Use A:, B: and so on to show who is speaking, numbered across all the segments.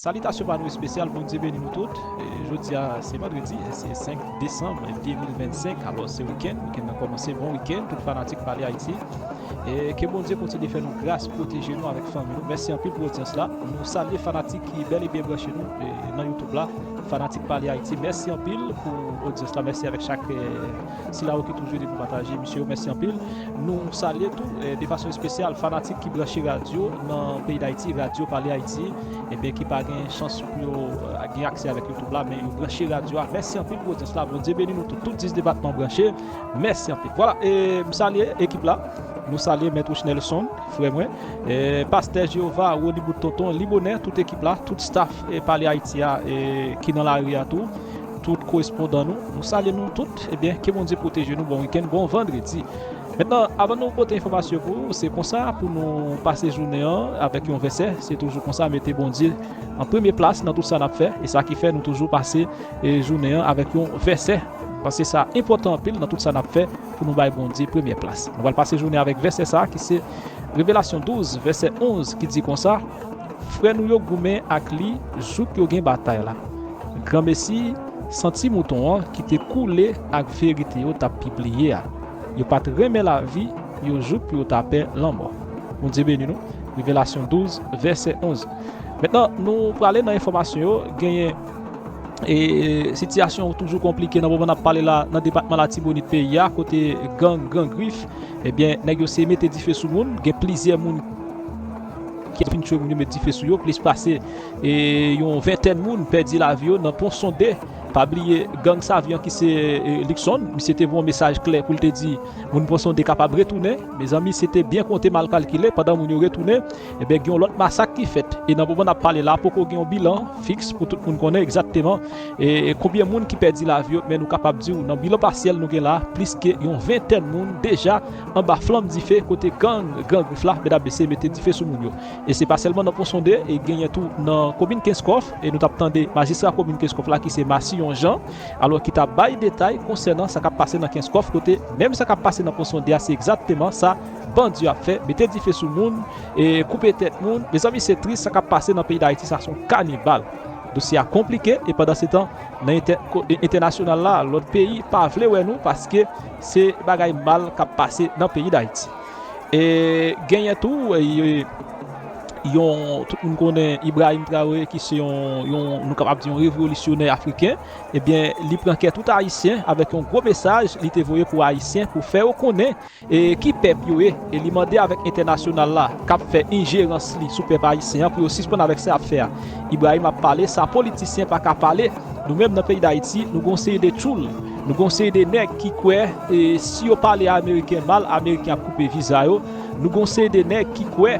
A: Salitasyon pa nou espesyal Bondye beni nou tout Jodia se vandredi se 5 desanm 2025 alòs se wikenn wikenn nan kòmanse bon wikenn tout fanatik pale ayiti ke Bondye kontinye fè nou gras pwoteje nou avèk fanmi nou mèsi anpil pou odyans la nou salye fanatik ki bèl e byen branche nou nan youtube la fanatik pale ayiti mèsi anpil pou odyans la mèsi avèk chak Sila yo ki toujou ede pou pataje emisyon yo mèsi anpil. Nou salye tou de fason espesyal fanatik ki branche radyo nan peyi Dayiti, Radyo Pale Ayiti, ebyen ki pa gen chans pou yo gen aksè avèk YouTube la men yo branche radyo a. Mèsi anpil pou odyans la. Bondye beni nou tout. Tout 10 depatman branche. Mèsi anpil. Vwala e m salye ekip la. Nou salye Mèt Wochnèlson, frè mwen, Pastè Jeyova, Ronibout Tonton, Libonè, tout ekip la, tout staf Pale Ayiti a ki nan lari a tou. Tout korespondan nou, nou salye nou tout. Ebyen, ke Bondye pwoteje nou. Bon wikenn, bon vandredi. Mentnan, avan nou pote enfòmasyon yo pou ou, se konsa pou nou pase jounen an avèk yon vèsè. Se toujou konsa, mete Bondye an premye plas nan tout sa n ap fè. E sa ki fè nou toujou pase jounen an avèk yon vèsè. Paske sa enpòtan anpil nan tout sa n ap fè pou nou bay Bondye premyè plas. Nou pral pase jounen avèk vèsè sa ki se Revelasyon 12 vèsè 11 ki di konsa. Frè nou yo goumen ak li jouk yo gen batay la. Granmesi, san Ti Mouton an ki te koule ak verite yo t ap pibliye a, yo pa t renmen lavi yo jouk pou yo ta pè lanmò. Bondye beni nou. Revelasyon 12, vèsè 11 Mentnan nou prale nan enfòmasyon yo, genyen e sitiyasyon toujou konplike nan moman n ap pale la nan depatman Latibonit peyi a kote gang Gran Grif ebyen nèg yo se mete dife sou moun gen plizyè moun ki ap fin tchwe moun yo met dife sou yo plis pase yon ventèn moun pèdi lavi yo nan pon sonde pa bliye gang savyan ki se Luckson misye te voye yon mesaj klè poul te di moun pon sonde kapab retounen mezanmi se te byen konte mal kalkile pandan moun yo retounen ebyen gen yon lòt masak ki fèt e nan moman nap pale la poko gen yon bilan fiks pou tout moun konnen egzakteman konbyen moun ki pèdi lavi yo men nou kapab diw nan bilan pasyèl nou gen la plis ke yon ventèn moun deja Anba flanm dife kote gang Gran Grif la, medam mesye mete dife sou moun yo. E se pa sèlman nan Ponsonde, e genyen tou nan komin Kenskòf, e nou t ap tande majistra komin Kenskòf la ki se Massillon Jean, alò ki t ap bay detay konsènan sa k ap pase nan Kenskòf kote menm sa k ap pase nan Ponsonde a se egzakteman sa bandi yo ap fè, mete dife sou moun, e koupe tèt moun. Mezanmi se tris sa k ap pase nan peyi Dayiti sa se yon kanibal. Dosye a konplike e pandansetan nan entènasyonal la lòt peyi pa vle wè nou paske Se bagay mal k ap pase nan peyi Dayiti. E genyen tou yon, tout moun konnen Ibrahim Traoré ki se yon, nou kapab di yon revolisyonè afriken, ebyen li pran kè tout ayisyen avèk yon gwo mesaj li te voye pou ayisyen pou fè yo konnen ki pèp yo ye. E li mande avèk entènasyonal la k ap fè enjerans li sou pèp ayisyen an pou yo sispann avèk sa y ap fè a. Ibrahim ap pale sa politisyen pa ka pale. Nou menm nan peyi dayiti nou gen yon seri de tchoul, nou gen yon seri de nèg ki kwè si yo pale ameriken mal ameriken ap koupe viza yo, nou gen yon seri de nèg ki kwè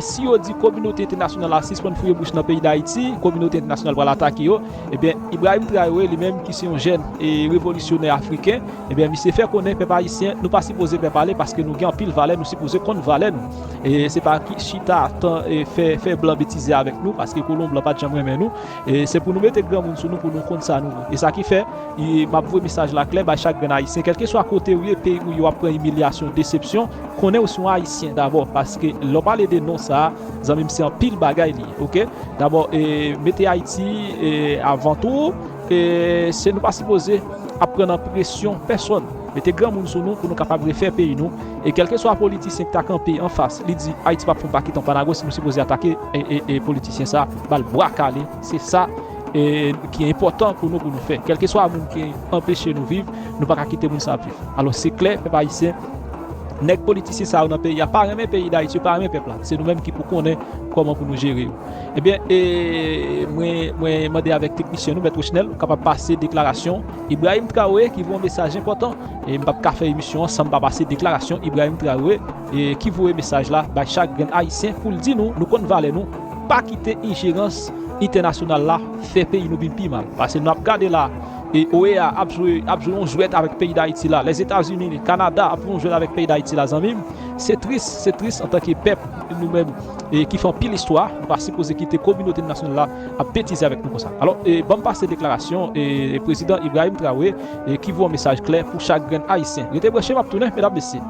A: si yo di kominote entènasyonal la sispann fouye bouch nan peyi dayiti kominote entènasyonal pral atake yo, ebyen Ibrahim Traore li menm ki se yon jèn revolisyonè afriken ebyen misye fè konnen pèp ayisyen nou pa sipoze pè pale paske nou gen anpil valè nou sipoze konn valè nou se pa chita fè blan betize avèk nou paske kolon blan pat janm renmen nou. Se pou nou mete granmoun sou nou pou nou konn sa nou vle. E sa ki fè, map voye mesaj la klè bay chak grenn ayisyen, kèlkeswa kotew ye, peyi ou ye wap pran imilyasyon, desepsyon, konnenw se yon ayisyen dabò paske lè w pale de non sa, zanmim se anpil bagay li ye ok. Dabò mete ayiti avan tou, se nou pa sipoze ap pran nan presyon pèsòn. Mete granmoun sou nou pou nou kapab refè peyi nou e kèlkeswa politisyen ki ta kanpe anfas li di ayiti pap fon pa kitan pa nago si nou sipoze atake. e politisyen sa bal bwa kale se sa ki enpotan pou nou pou nou fè kelkeswa moun ki anpeche nou viv nou pa ka kite moun sa ap viv alos se kle pèp ayisyen nèg politisyen sa yo nan peyi a pa renmen peyi dayiti yo pa renmen pèp la se nou menm ki pou konnen koman pou nou jere yo ebyen mwen mande avèk teknisyen nou mèt wochnèl ou kapab pase deklarasyon ibrahim traore ki voye yon mesaj enpotan e m pap ka fè emisyon an san m pa pase deklarasyon ibrahim traore. ki voye mesaj la bay chak grenn ayisyen pou l di nou nou konn valè nou pa kite injerans entènasyonal la fè peyi nou vin pi mal pase nou ap gade la OEA ap jwe ap jwe yon jwèt avèk peyi dayiti la lèzetazini kanada ap jwe yon jwèt avèk peyi dayiti la zanmi m se tris se tris antanke pèp nou menm ki fè anpil istwa nou pa sipoze kite kominote entènasyonal la ap betize avèk nou konsa alò ban m pase deklarasyon prezidan ibrahim traore ki voye yon mesaj klè pou chak grenn ayisyen rete branche m ap tounen medam mesye.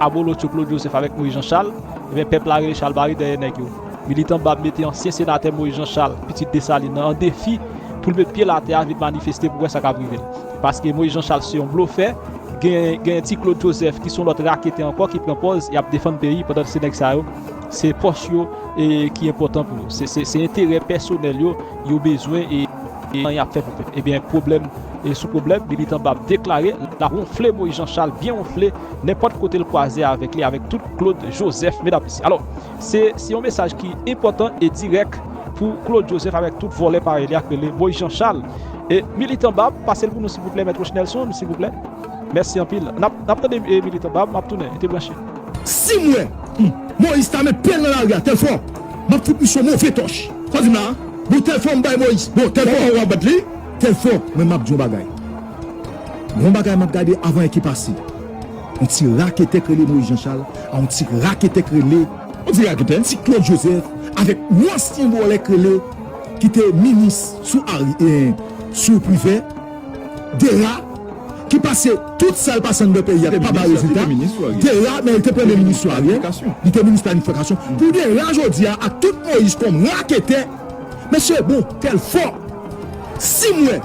A: Abolotcho Claude Joseph avèk Moïse Jean Charles, ebyen pèp la rele chalbari dèyè nèg yo. Militan bab mete ansyen senatè Moïse Jean Charles, pitit Dessalines nan, an defi pou l met pye l atè a vin manifeste pou wè sa k ap rive l. Paske Moïse Jean Charles se yon blofè, gen gen ti Claude Joseph ki se yon lòt raketè ankò ki pran pòz y ap defann peyi pandan se nèg sa yo se pòch yo ki enpòtan pou yo. Se se se enterè pèsonèl yo yo bezwen e san y ap fè pou pèp. Ebyen pwoblèm sou pwoblèm, militan bab deklare l ap wonfle Moïse Jean Charles byen wonfle. nenpòt kote l kwaze avèk li avèk tout Claude Joseph medam mesye alò se se yon mesaj ki enpòtan e dirèk pou Claude Joseph avèk tout vòlè parèy li ak rele Moïse Jean Charles e militan bab pase l pou nou silvouplè mèt Rochnelson silvouplè mèsi anpil nap nap tande e militan bab map tounen rete branche. Si m wè
B: humm Moïse ta met pyel nan lari a telfò map fout misye yon move tòch sa w di m la a bon telfò m bay Moïse bon telfò wap bat li telfò men map di yon bagay Gon bagay map gade avan è ki pase. Yon ti raketè k rele Moïse Jean Charles a yon ti raketè k rele. Yon ti raketè, yon ti Claude Joseph avèk yon ansyen vòlè k rele ki te minis sou Ari e sou Privè, Dera ki pase tout sa l pase anndan peyi a pa bay rezilta. Dera men li te premye minis sou Ariel, li te minis planifikasyon. Pou Dera jodi a ak tout Moïse kòm raketè, mesye bon kè l fò si m wè.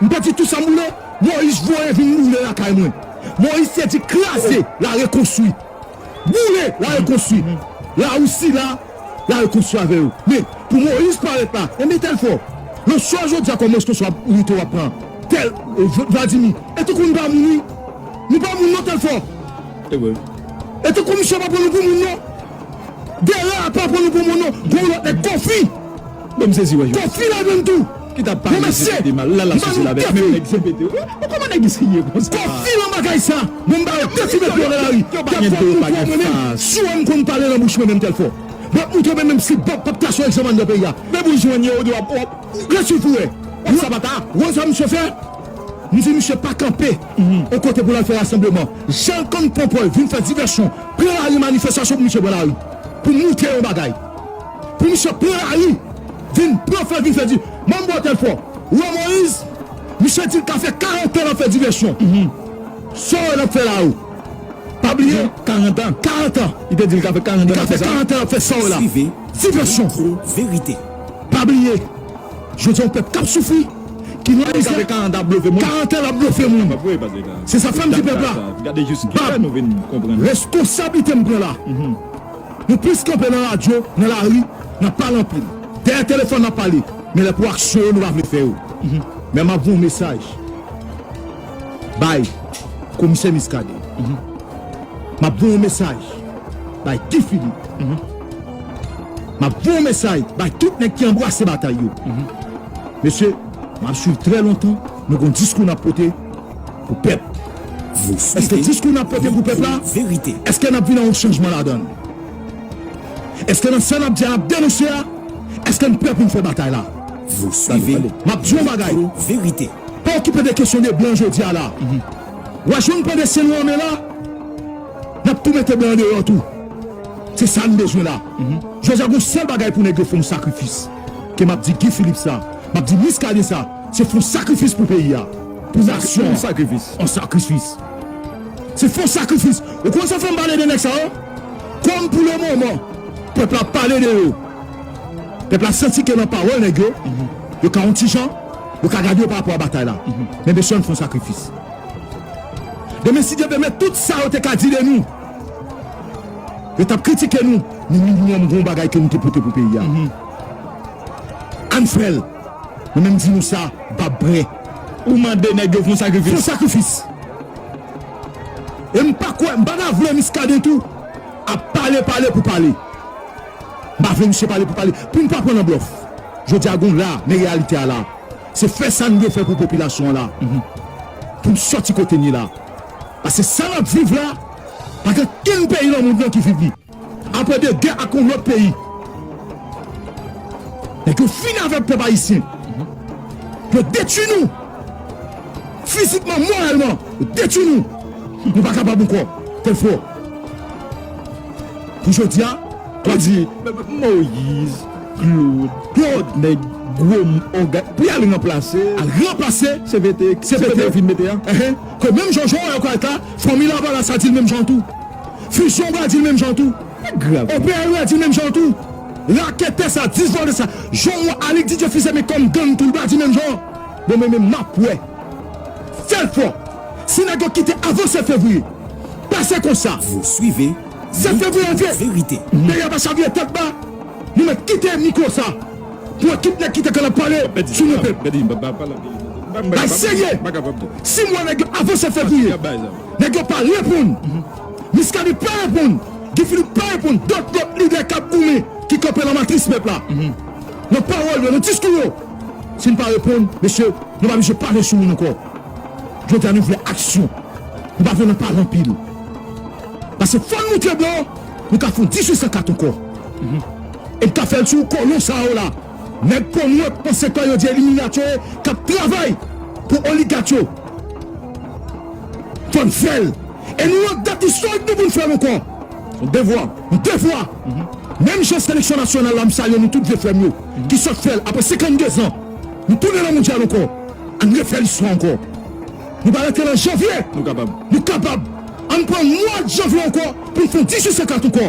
B: M te di tou sa m boule, Moyiz voye vin boule lakay mwen. Moyiz te di kraze, larekonstwi. Boule, larekonstwi. Lawousi la, larekonstwi avè yo. Men, pou Moyiz parèt la, e mete l fò. Lòt swa jodi a kòm responsab inite w ap pran tèl, Vladimi. E tankou nou pa moun wi. Nou pa moun non tèl fò. E tankou misye pa pran nou pou moun non. Dera a pa pran nou pou moun non. Gen yon lòt nèg Kòfi. Kòfi la menm tou. ki tap pale jpd mal la la sousel avek menm nèg jpd yo oh kòman nèg isi ye konsa Kofi lan bagay sa bon m bayo de ti met pye yo nan lari yo pa gen de yo pa gen fas mwen menm si wèm konn pale lan bouch mwen menm tel fò mwen t moutre mwen menm si bob pap ta son egzanman andan peyi a men pou jwenn yo ou di wap wap ret sou pou wè wè sa pa ta wè sa misye fè m di misye pa kanpe on kote pou lal fè rasanbleman janl konn pran pòl vin fè divèsyon pran lari manifestasyon pou misye pran lari pou moutre yon bagay pou misye pran lari. Vin pran fè vin fè di manbo telfò wè moise misye dil ka fè 40 ans lap fè divèsyon saw wè lap fè la ou pa bliye 40 ans 40 ans li te dil ka fè 40 ans lap fè sa li ka fè 40 ans lap fè saw wè la divèsyon pa bliye jodi yon pèp kap soufri ki nan mizè 40 ans lap blofe moun se sa fèm di pèp la bab reskonsablite m pran la. Nou plis kanpe nan radyo, nan lari, nan pale anpil. Dèyè telefòn nap pale, men lè pou aksyon yo nou pa vle fè yo. Men map voye yon mesaj bay komisè Muscadin, map voye yon mesaj bay Guy Philippe, map voye yon mesaj bay tout nèg ki anbrase batay yo. Mesye, map swiv trè lontan, nou gon diskou nap pote. Pou pèp. Èske diskou n ap pote pou pèp la, èske n ap vin an yon chanjman ladan l? Èske nan sa n ap di a, n ap denonse a, èske n prè pou n fè batay la? Tande, tande, m ap di w yon bagay, pa okipe de kesyon de blan jodi a la. W a jwenn pande syen nou anmen la, n ap tou mete blan an deyò tou. Se sa n bezwen la. Jodi a gon sèl bagay pou nèg yo fè yon sakrifis, ke m ap di Guy Philippe sa, m ap di Muscadin sa, Se fon sakrifis pou peyi a. Pou nasyon an. An sakrifis. Se fon sakrifis. Ou konn sa fè m pale de nèg sa yo? Kòm pou le moman, pèp la pale de yo. Pèp la santi ke nan pawòl nèg yo, yo ka yon ti jan, yo ka gade yo parapò a batay la. Men mesye ann fon sakrifis. Demen si Dye pèmèt tout sa yo te ka di de nou. Yo t ap kritike nou. Men minimòm gen yon bagay ke nou te pote pou peyi a. Ann fè l. Mwen menm di nou sa, m pa pre. Ou mande nèg yo fon sakrifis. Fon sakrifis. E m pa kwè, m pa ta vle Muscadin tou ap pale pale pou pale. M pa vle misye pale pou pale. Pou n pa pran nan blòf. Jodi a gon la, men reyalite a la. Se fè sa n dwe fè pou popilasyon an la. Pou n sòti kote n ye la. Paske sa n ap viv la, pa gen kenn peyi nan mond lan ki viv li. Apre 2 gè ak yon lòt peyi. Nèg yo fini avèk pèp ayisyen. Yo detui nou. Fizikman, moralman. Yo detui nou. Nou pa kapab ankò. Tèlfò. Pou jodi a. Wap di. Moïse. Claude. Claude. Nèg gwo ògane. Pou yal ranplase. Al ranplase. CPT. CPT. Vin mete a. Ehe. Ke menm jan Joel Carter. Fanmi lavalas la di l menm jan tou. Fusion pral dil menm jan tou. OPL pral
C: dil menm jan
B: tou. Raketè sa, 10 vòlè sa. Jan ou wè Alix Didier Fils Aimé kòm gang tou li pral di menm jan. Bon men men map wè. Fèl fò. Si nèg yo kite avan 7 fevriye. Pase konsa. Vous suivez,
C: nous
B: disons verite. Meyè
C: pa chavire
B: tèt ba. Nou mèt kite mikro sa. Pou ekip nèg kite kanap pale sou nou pep. Bay serye. Sim wè nèg yo avan 7 fevriye. Nèg yo pa reponn. Miskaden pa reponn. Guy Philippe pa reponn. Dòt lòt lidè k ap goumen, ki kanpe lan matris pèp la, lan pawòl yo, lan diskou yo, si n pa reponn, mesye, nou pa bije pale sou moun ankò. Jodi a nou vle aksyon. Nou pa vle lan pale anpil. Pase fò n moutre bò, nou ka fon 1804 ankò. E n ka fè l sou kolon sa yo la. Nèg konwòt konsekan yo di eliminat yo ye kap travay pou oligat yo konn fèl e nou wont dat istorik nou poun fèl ankò yon devwa yon devwa menm jan seleksyon nasyonal la m salye nou tout vye frèm yo ki sot fèl aprè 52 zan nou tounen nan mondyal ankò ann refè listwa ankò nou pa rete nan janvye nou kapab ann pran mwad janvye ankò poun fon 18 san kat ankò.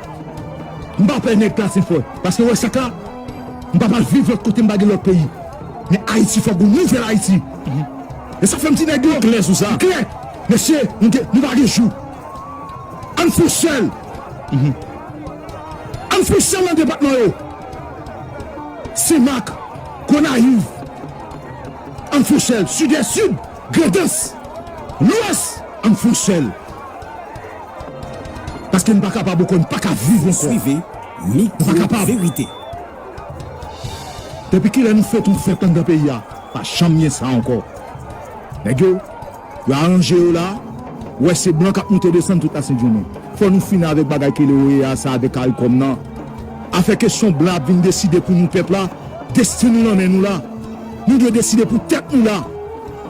B: M pa pè nèg plas e fò paske wè sak la m pap al viv lòt kote m pa gen lòt peyi men ayiti fòk gon nouvèl ayiti e sa fèm di nèg yo m klè sou sa m klè mesye nou gen nou pa gen jou ann fou sèl ann fou sèl nan depatman yo senmak gonayiv ann fou sèl sidès sid. Grandans! Lwès! An n flanche l! Paske n pa kapab ankò, n pa ka viv ankò! Ou swive
C: Mikro Verite.
B: Depi kilè nou fè tout fèt anndan peyi a pa janm gen sa ankò nèg yo yo aranje yo la ou wè se blan kap moute desann tout la sent jounen fò nou fini avèk bagay kele oea sa avèk karikòm nan afè kesyon blan ap vin deside pou nou pèp la destin nou nan men nou la. Nou dwe deside pou tèt nou la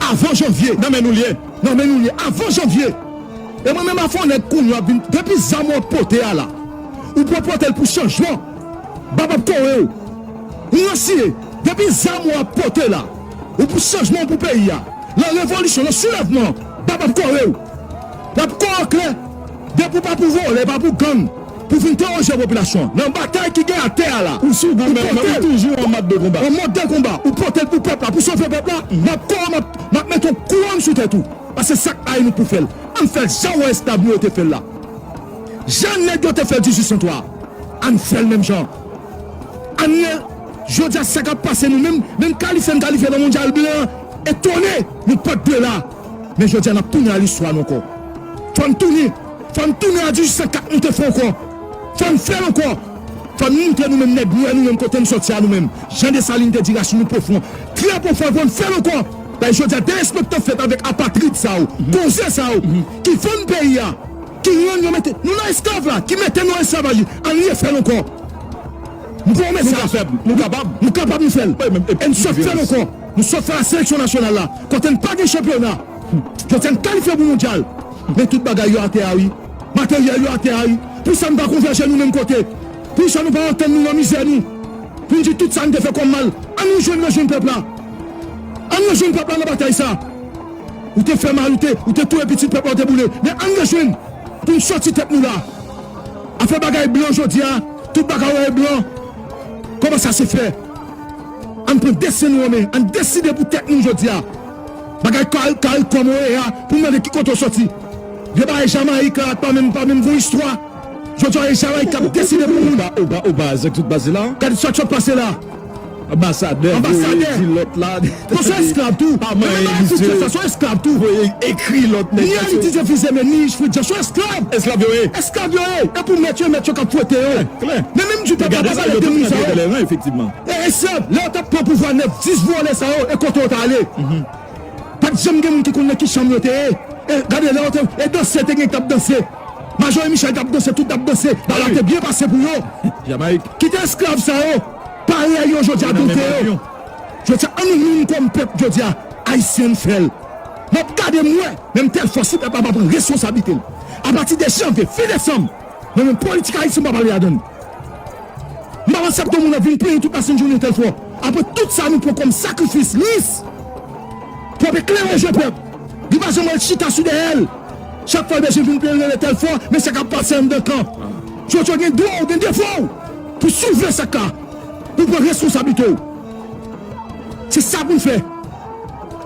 B: avan janvye nan men nou liye nan men nou liye avan janvye e mwen menm avk on nèg kounya wap vin depi zam wap pote a la ou pran potel pou chanjman bab ap korew nou resi e depi zam wap pote la ou pou chanjman ou pou peyi a lan revolisyon lan soulèvman bab ap korew lap korew klè depi ou pa pou vòlè pa pou gang. Pou fin teworize popilasyon an nan batay ki gen atè a la, ou sou goumen men ou toujou an mòd de konba. An mòd de konba, ou pote l pou pèp la, pou sove pèp la, map kò w, map mete yon kouwòn sou tèt ou. Pase sak pa inik pou fè l. Ann fè l jan wè esklav nou yo te fè l la. Jan nèg yo te fè l 1803 a. Ann fè l menm jan an. Ann ye, jodi a sa kap pase nou menm, menm kalifye n kalifye nan mondyal blan an, etone nou pat dwe la. Men jodi a n ap tounen a listwa n ankò. Fò n tounen! Fò n tounen a 1804 nou te fè ankò! Fò n fè l ankò! Fò n montre nou menm nèg nwè nou menm kote n sòti a nou menm jan Desalin te di rasin nou pwofon, trè pwofon e fò n fè l ankò! Bay jodi a derespektan k fèt avèk apatrid sa yo, konze sa yo ki vann peyi a, ki rann yo mete nou nan esklav la, ki mete nou an esklavaj li, an n refè l ankò! M voye w mesaj! Nou kapab! Nou kapab nou fè l! E n sot fè l ankò! Nou sot fè a seleksyon nasyonal la kote n pa gen chanpyona Jodi a n kalifye pou mondyal men tout bagay yo atè a wi Materyèl yo atè a wi Pou sa n pa konvèje nou menm kote Pou sa nou pa antann nou nan mizè nou Pou n di tout sa n te fè kòm mal Ann rejwenn rejwenn pèp la Ann rejwenn pèp la nan batay sa Ou te fè mal ou te ou te touye pitit pèp la ou te boule men ann rejwenn pou n sòti tèt nou la a fè bagay blan Jodi a tout bagay ou wè e blan Kòman sa se fè. Ann pran destin nou an men, ann deside pou tèt nou jodi a. Bagay caricom ou ye a pou m mande ki kote ou soti. Vye bagay Jamaïque la pa menm pa menm gon istwa. Jodi a e Jamaïque k ap deside pou moun. Ou baz ak tout baz
C: la. Gade sa k sot pase la.
B: Anbasadè
C: voye di lòt la. Bon son esklav tou.
B: Pa manyen misye. Son esklav tou. Voye ekri lòt nèg.
C: Ni elitize vize
B: men ni fredi an son esklav. Esklav yo ye. Esklav
C: yo ye.
B: E pou mèt yo e mèt yo k ap fwete yo. Klè. Men menm di pèp la pa pale de moun sa yo. Gade sa yo k ap fè nan tèlè ran efektivman. Pa
C: egzanp, lè yo t
B: ap pran pouvwa 9, 10 vòlè sa yo e kote yo t ale? Pa t janm gen moun ki konn nan ki chanm yo te ye. E gade, lè yo te e danse te gen ki t ap danse. Majori Michèl t ap danse, tout t ap danse. Bagay la te byen pase pou yo. Kite
C: esklav sa
B: yo parèy yo jodi a dote yo. Jodi a, an nou menm kòm pèp jodi a, Ayisyen n fè l. M ap gade m wè, menm tèl fwa si pèp la pa pran reskonsablite l apati de janvye, fen desanm, mwen menm politik Ayiti m pa pale ladan l. M pa pral sèpte moun ap vin plenyen tout masin jounen tèl fò apre tout sa nou pran kòm sakrifis lis pèp e klere je pèp li pa janm al chita sou dèyè l chak fwa l bezwen vin plenyen rele tèl fò men sa k ap pase anndan kan tchotcho w gen dwa w gen devwa w pou soulve sa k la pou w pran reskonsablite w se sa pou n fè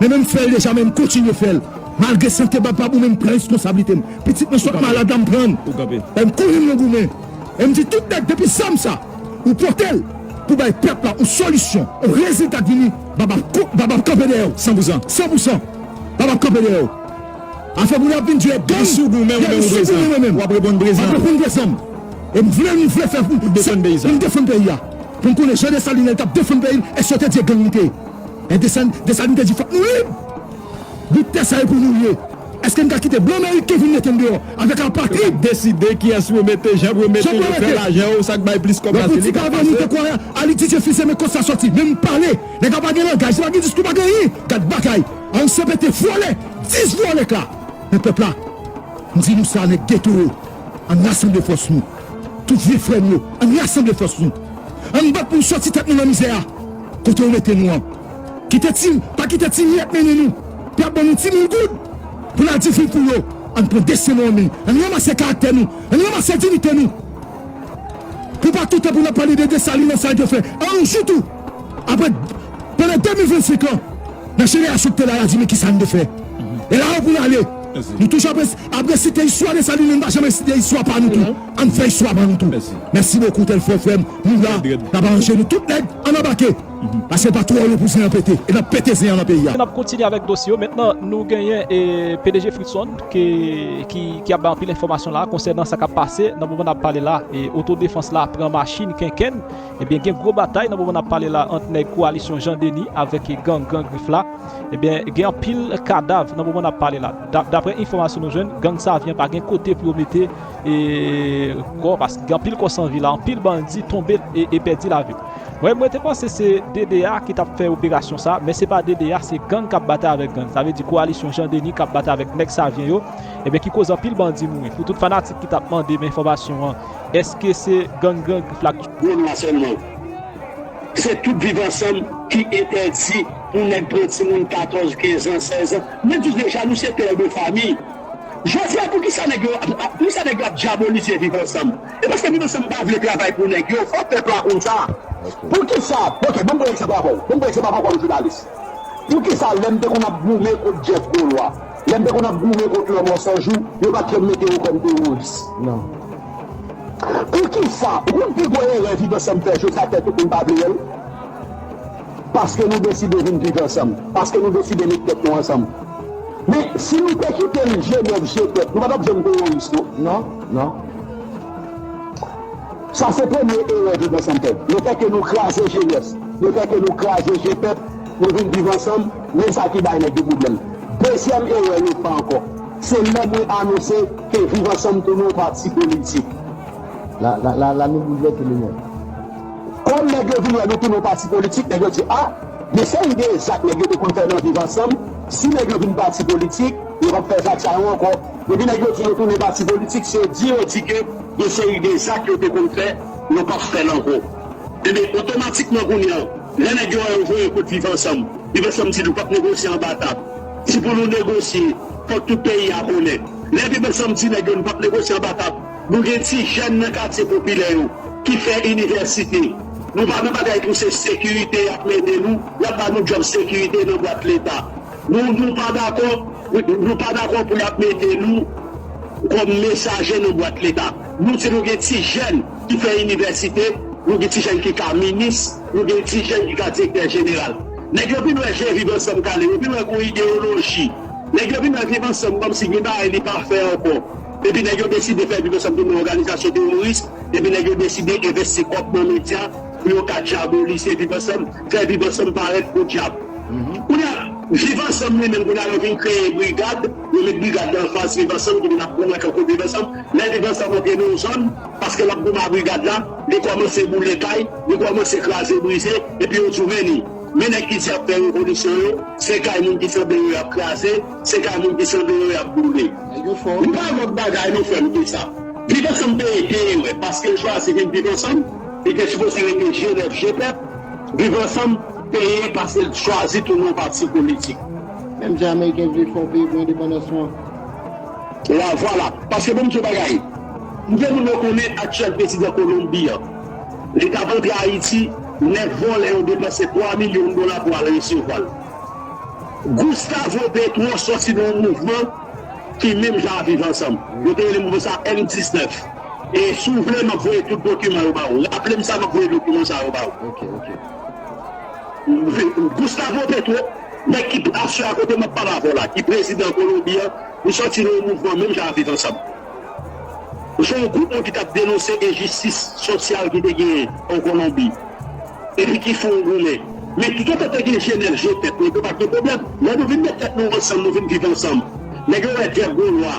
B: men men m fè l deja men m kontinye fè l malgre sante m pa bon men m pran reskonsablite m pitit mwen sot malad la m pran l m kouri m nan goumen. E m di tout nèg depi zam sa ou pote l pou bay pèp la yon solisyon, yon rezilta k vini bab ap kont bab ap kanpe dèyè w san pou zan san pou san bab ap kanpe dèyè w afè moun yo ap vin di e gang sou goumen w menm w ap reponn prezan wap reponn prezan e m vle nou vle fè pou m defann peyi sa pou m defann peyi a pou m konnen jan Dessalines te ap defann peyi l èske yo te di e gang li te ye e Dessalines te di fòk nou lib. Di tè sa yo pou nou ye. Eske n ka kite blan meriken vin mete n deyò avèk apatrid? Yo ka deside kiyès pou yo
C: mete, jan pou yo mete, yo fè lajan yo, sa k bay plis kòb la se li k ap pase. Lè politik avè nou te kwè a,
B: Alididye Fils-Aimé men kot sa sòti, menm pale, nèg la pa gen langaj, li pa gen diskou, li pa gen anyen, gad bagay, an CPT vòlè, 10 vòlè k la men pèp la, m di nou sa nèg geto yo, an n rasanble fòs nou, tout vye frè m yo, an n rasanble fòs nou, an n bat pou n sòti tèt nou nan mizè a, kote yo mete nou an. Kite ti, pa kite ti miyèt mennen nou. Y ap ban nou ti mil goud pou n al di figi pou yo. An n pran desten nou an men. An n ranmase karaktè nou. An n ranmase diyite nou. Pou pa tout tan pou n ap pale de Desalin ak sa l te fè. An yon jou tou, apre, pandan 2025 an, nan jenerasyon k te la y a di men kisa n te fè. E la yo pou n ale. Nou toujou ap ap resite istwa Desalin men nou pa janm resite istwa pa nou tou. An n fè istwa pa nou tou. Mèsi bokou Tèlfò frè m. Nou la, n ap aranje nou. Tout nèg, an n anbake! Paske l pa twò lwen pou zen an pete e n ap pete zen an nan peyi a. N ap kontinye avèk dosye
A: yo mentnan nou genyen pdg Fritson ki ap bay anpil enfòmasyon la konsènan sa k ap pase nan moman n ap pale la oto defans la pran machin kenkenn ebyen gen gwo batay nan moman n ap pale la ant nèg kowalisyon Jan Deni avèk gang Gran Grif la ebyen gen anpil kadav nan moman n ap pale la daprè enfòmasyon nou jwenn gang Savyen pa gen kote pou yo mete kò paske gen anpil kò san vi la anpil bandi tonbe e pèdi lavi. Mwen mwen te panse se DDA ki tap fè operasyon sa men se pa DDA se gang kap batay avèk gang sa vle di koalisyon Jean Denis kap batay avèk nèg Savien yo ebyen ki koz anpil bandi mouri pou tout fanatik ki tap mande men enfòmasyon an eske se gang gran grif la ki Menm la sèlman
D: se tout viv ansanm ki entèdi pou nèg pran timoun 14 15 ans 16 ans mwen di w deja nou se père de famille jodi a poukisa nèg yo ap poukisa nèg yo ap diabolise viv ansanm E paske moun ansanm pa vle travay pou nèg yo fò pèp la konn sa. Poukisa, ok banm pran egzanp avèw, banm pran egzanp avèw kòm jounalis. Poukisa lèm te konn ap goumen kont Jeff Golois, lèm te konn ap goumen kont lanmò sanjou, yo pat janm mete yo kòm teworis? Non. Poukisa, ou konn pi gwo erè viv ansanm fè, Josaphat ou konn pa vle wèl? Paske nou deside vin viv ansanm. Paske nou deside met tèt nou ansanm. Men, si nou te kite l je nèg je tèt, nou pa t ap janm teworis non. Non, non. Sa se premye erè viv ansanm fè. Lefè ke nou kraze jenès, lefè ke nou kraze je pèp, nou vin viv ansanm, men sa ki bay nèg yo pwoblèm. Dezyèm erè yo fè ankò, se lè mwen anonse ke viv ansanm tounen yon pati politik. La,
E: la, la nou boulvèse le mond. Kòm
D: nèg yo vin wè nou tounen yon pati politik, nèg yo di a, men se yon de zak nèg yo te konn fè nan Viv Ansanm, si nèg yo vin pati politik, yo pap fè zak sa yo ankò. Depi nèg yo di yo tounen pati politik, se di yo di ke yon seri de zak yo te konn fè, yo pap fè l ankò. Enben, otomatikman kounye a, lè nèg yo wè yo voye kont Viv Ansanm, Viv Ansanm di nou pap negosye anba tab. Si pou nou negosye, fòk tout peyi a konnen. Lè Viv Ansanm di nèg yo nou pap negosye anba tab, Nou gen ti jèn nan katye popilè yo ki fè inivèsite. Nou pa nan bagay pou se sekirite y ap mennen nou, y ap ba nou djòb sekirite nan bwat Leta. Nou nou pa dakò nou pa dakò pou y ap mete nou kòm mesaje nan bwat Leta. Nou di nou gen ti jèn ki fè inivèsite, nou gen ti jèn ki ka minis, nou gen ti jèn ki ka direktè jeneral. Nèg yo vin wè je Viv Ansanm kale, yo vin wè gen yon ideyoloji. Nèg yo vin wè Viv Ansanm kòmsi gen bagay li pa fè ankò. Depi nèg yo deside fè Viv Ansanm tounen òganizasyon teworis, depi nèg yo deside envesti kòb nan medya pou yo ka dyabolise Viv Ansanm, fè Viv Ansanm parèt podyab. Kounye a, Viv Ansanm li menm, kounye a yo vin kreye brigad, yo met brigad nan anfas Viv Ansanm ki vin ap goumen kankou Viv Ansanm. Lè Viv Ansanm antre nan yon zòn, paske l ap goumen a brigad la, li kòmanse boule kay, li kòmanse kraze brize, epi yo di w men li, men nèg ki di y ap fè revolisyon yo, se kay moun ki sanble yo y ap kraze, Se kavoum ki sanble yo yap boule. Li pa lot bagay non frem ke sa. Viv ansanm te ete ewe paskel chwazi vin viv ansanm li te sipoze rete je nèf je pèp viv ansanm te ye pasel t chwazi tounen yon pati politik. Menm jan ameriken
E: vle fè yon peyi pou endepandans ou an.
D: La vwala. Paske bon m di w bagay. Knbyen moun yo konnen aktyèl prezidan Kolonbi an? Li tap antre Ayiti, 9 vòlè yo depanse 3 milyon dola pou al resevwa l. Gustavo Petro sòti nan yon mouvman ki menm jan a Viv Ansanm. Yo te rele mouvman sa a M 19. E si w vle, m ap voye tout dokiman yo ba ou. Raple m sa, m ap voye dokiman sa yo ba
E: ou.
D: Gustavo Petro, nèg ki byen aswe a kote m ap pale avè w la, ki prezidan Kolonbi an, li sòti nan yon mouvman menm jan a Viv Ansanm. Se yon gwoup moun ki t ap denonse enjistis sosyal ki te genyen an Kolonbi epi ki fè yon goumen. Men toutotan te gen je nèg je tèt, negro pa t gen pwoblèm. Lè nou vin met tèt nou ansanm, nou vin viv ansanm, nèg yo wè Jeff Golwa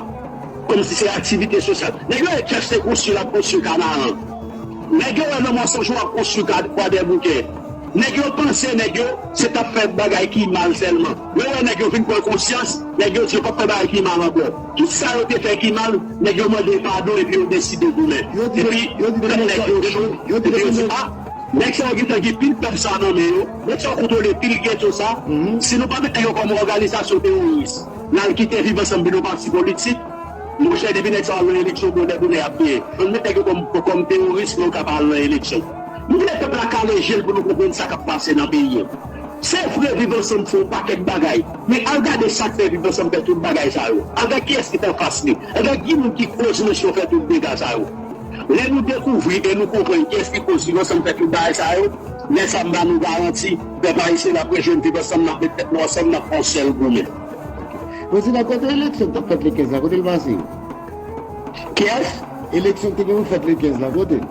D: kòmsi se aktivite sosyal. Nèg yo wè Jeff se konstwi l ap konstwi Kanaran. Nèg yo wè nan Monsonj ou ap konstwi Kwadèboukè. Nèg yo panse nèg yo se t ap fè bagay ki mal sèlman. Yo wè nèg yo vin pran konsyans, nèg yo di yo p ap fè bagay ki mal ankò. Tout sa yo te fè ki mal, nèg yo mande padon epi yo deside goumen. Epi, tèt nèg yo cho, epi yo di, a, nèg sa yo gentan gen pil pèp sa a nan men yo, nèg sa yo kontwole pil geto sa, si nou pa mete yo kòm òganizasyon teworis, n al kite Viv Ansanm vin yon pati politik, monchè depi nèg sa yo al nan eleksyon bonè bonè y ap genyen. Ann met nèg yo kòm teworis pou yo ka pa al nan eleksyon. Nou vle pèp la kale je l pou nou konprann sa k ap pase nan peyi an. Se vre viv ansanm fè yon pakèt bagay men al gade sak fè viv ansanm fè tout bagay sa yo al gad kiyès ki t anfas li al gad ki moun ki koz mesyon fè tout dega sa yo lè nou dekouvri e nou konprann kiyès ki koz viv ansanm fè tout bagay sa yo lè sa m ba nou garanti pèp ayisyen nap rejwenn viv ansanm nap met tèt nou ansanm nap fè yon sèl goumen. Prezidan
E: kote eleksyon k tap fèt le 15 la kote l pase?
D: Kiyès? Eleksyon k te gen pou fèt le
E: 15 la kote l?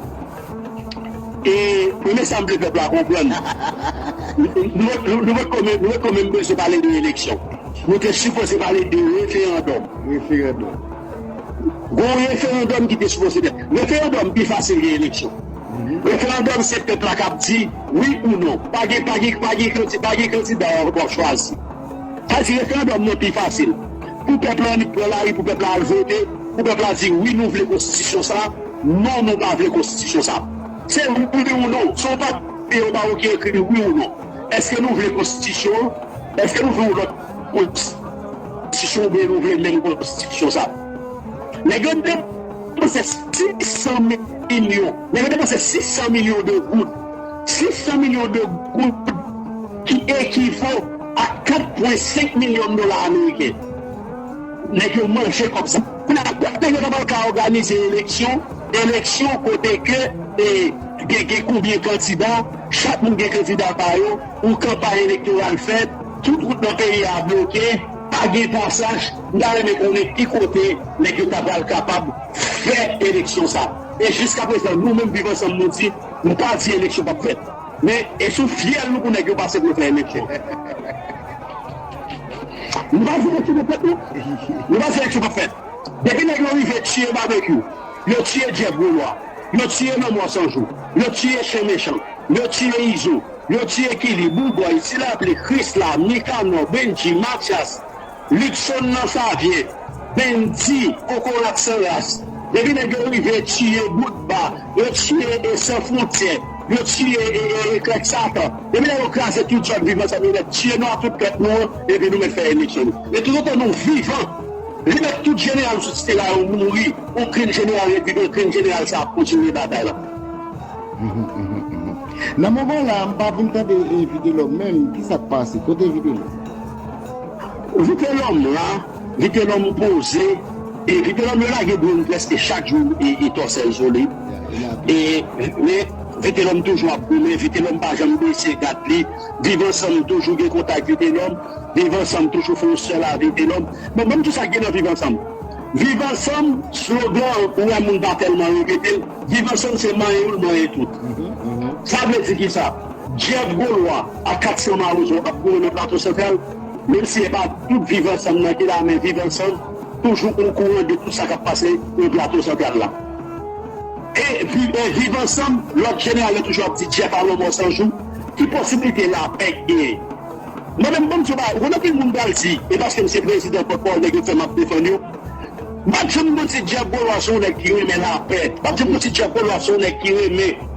D: E men sa m vle pèp la konprann, nou pa t ko menm bezwen pale de eleksyon. Nou te sipoze pale de referandòm. Gen yon referandòm ki te sipoze fèt. Referandòm pi fasil ke eleksyon. Referandòm se pèp la k ap di wi ou non. Pa gen kandida w ap chwazi. Sa vle di referandòm nan pi fasil. Pou pèp la annik pran lari pou pèp la al vote pou pèp la di wi nou vle konstitisyon sa non nou pa vle konstitisyon sa se wi ou non se yon papye yo ba ou ki ekri wi ou non eske nou vle konstitisyon an eske nou vle yon lòt konstitisyon ou byen nou vle menm konstitisyon sa nèg yo te panse 600 milyon nèg yo te panse 600 milyon de goud 600 milyon de goud ki ekivo. Ak 4 pwen 5 milyon dola ameriken nèg yo manje kòb sa. Kounye a kot nèg yo ta pral ka òganize eleksyon, eleksyon kote ke gen gen konbyen kandida, chak moun gen kandida pa yo, yon kanpay elektoral fèt, tout wout nan peyi a bloke, pa gen pasaj, m ta renmen konnen ki kote nèg yo ta pral kapab fè eleksyon sa. E jiskaprezan nou menm Viv Ansanm nou di, nou pa di eleksyon pap fèt. Men e sou fyèl nou pou nèg yo pase pou yo fè eleksyon. Nou pa di eleksyon pap fèt non. Nou pa di eleksyon pap fèt. Depi nèg yo rive tiye Babekyou, yo tiye Jeff Golois, yo tiye Lanmò San Jou, yo tiye Chen Mechan, yo tiye Izo, yo tiye Killy, Boubòy, Ti Lapli, Krisla, Nikanò, Bendji, Matyas, Luckson nan favye bndi kokorat san ras depi nèg yo rive tiye bout ba yo tiye e san frontyè yo tiye e krèk satan depi lè yo kraze tout zòn viv ansanm yo mèt tiye nou ak tout pèp nou an epi nou mèt fè eleksyon nou e toutotan nou vivan li mèt tout jeneral sou site la yo mouri okenn jeneral repibe okenn jeneral sa ap kontinye batay la. Nan
E: moman la m pa vin tande vitelom menm kisak pase kote vitelom. Vitelòm
D: la, Vitelòm poze e Vitelòm yo lage dronn prèske chak jou e tòsèl sou li e men Vitelòm toujou ap goumen, Vitelòm pa janm bese gad li, Viv ansanm toujou gen kontak Vitelòm, Viv ansanm toujou fè yon sèl a Vitelòm, bon banm di sa ki gen nan Viv ansanm, Viv ansanm slogan an ou wè moun pa tèlman repete l, Viv ansanm se manyen youn manyen tout sa vle di kisa Jeff Gaulois. ak 400 mawozo ap goumen nan Plato Santral, menm si e pa tout Viv Ansanm nan ki la men Viv Ansanm toujou okouran de tout sa k ap pase nan Plato Santral la. E Viv Ansanm, lòt jeneral yo toujou ap di Jeff a lanmò san jou, ki posiblite lapè ki genyen? Mwen menm, ban m di w bagay, ou konn anpil moun pral di e paske m se prezidan pòtpawòl nèg yo fè m ap defann yo, m pa janm konn di Jeff Beaulois se yon nèg ki renmen lapè, m pa janm konn di Jeff Beaulois se yon nèg ki renmen.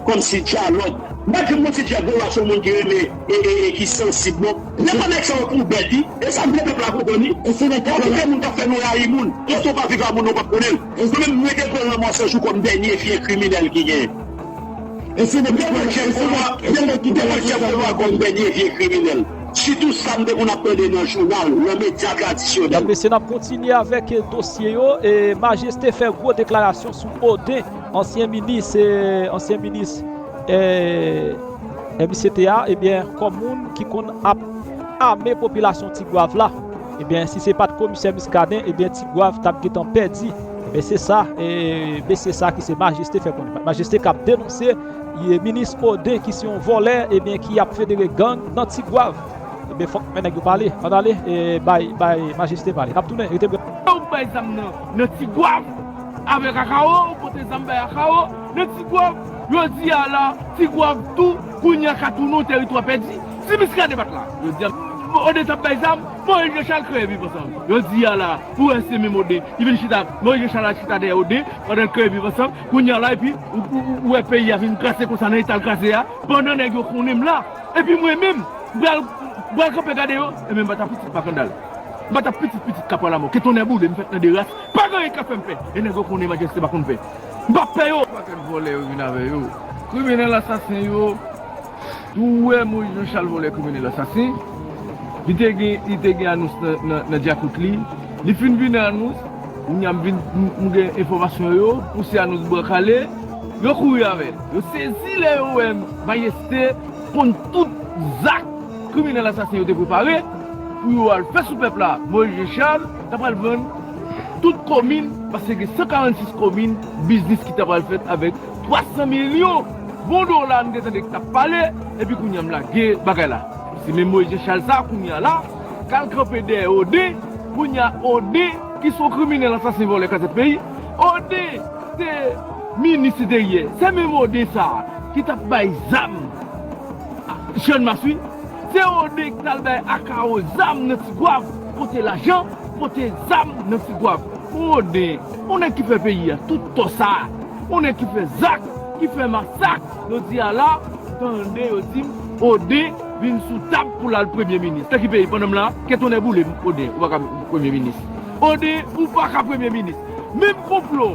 D: Kòmsi dyalòg. Mwen di mwen se djab yo wè son moun ki renmen e ki sansib non. Lè pa nèg sa yo pou bèt wi. Esa m vle pèp la konprann wi. Ou fout ou pap wè moun kap fè nou rayi moun. Kote ou pa viv a moun nan ou pap konnen l. Ou konnen m mwen te pran lanmò sanjou kòm dènye fye kriminèl ki gen. Ou fout ou pran Jeff Benoit kòm dènye fye kriminèl. Sitou sa m te konn ap tande nan jounal, nan medya tradisyonèl. Mèt mesye nap kontinye
A: avèk dosye yo e majeste fè gwo deklarasyon sou Odin ansyen minis ansyen minis eh misye te a ebyen kòm moun ki konn ap ame popilasyon tigwav la ebyen si se pat komisè Muscadin ebyen tigwav tap gentan pèdi ebyen se sa mesye sa ki se majeste fè konnen majeste kap denonse Ye minis Odin ki se yon vòlè ebyen ki ap federe gang nan tigwav ebyen fòk men nèg yo pale ann ale bay bay majeste pale nap tounen rete prè. Kote ou bay zam nan nan
F: tigwav avèk akawo ou pote zam bay akawo nan tigwav jodi a la tigwav tou kounye a ka tounen yon tèritwa pèdi si miskaden pat la jodi a Odin tap bay zam Moyiz Janchal kreye viv ansanm jodi a la pou wè se menm Odin ki vin chita Moyiz Janchal al chita dèyè Odin pandan l kreye viv ansanm. Kounya la epi ou wè peyi a vin kraze konsa nan eta l kraze a pandan nèg yo konnen m la epi mwen menm m pral m pral kanpe gade yo ebyen m pa ta pitit makandal m pa ta pitit pitit kapwa lamò ke tonnè boule m fèt nan 2 ras pa gen anyen k ap fè m pè e nèg yo konnen majeste pa konn pè m pa p pè yo. Pakèt vòlè yo vin avè yo. Kriminèl asasen yo. Tou wè Moïse Jean Charles volè kriminel asasen li te gen li te gen anons nan djakout li li fin vin nan anons kounya m vin m gen enfòmasyon yo pou se anons bwa kale yo kouri avèl yo sezi lè yo wè mayeste konn tout zak kriminel asasen yo te prepare pou yo al fè sou pèp la Moïse Jean Charles ta pral vann tout komin paske gen 146 komin biznis ki ta pral fèt avèk 300 milyon bon dola m te tande ki tap pale epi kounya m lage bagay la se menm Moïse Jean Charles sa kounya la kal kanpe dèyè Ode kounya Ode ki son kriminèl ansasen vòlè kazèk peyi Ode te minis enteryè se menm Ode sa ki tap bay zam a channmas wi se Ode ki tal bay Akao zam nan tigwav pote lajan pote zam nan tigwav Ode on nèg ki fè peyi a tout tò sa Konnen ki fè zak, ki fè masak, jodi a la, tande yo di m, Oden vin sou tab pou l al premye minis. Nan ki peyi pandan m la? Ke tonnè boule m, Oden, ou pa ka premye minis. Oden, ou pa ka premye minis. Menm konplo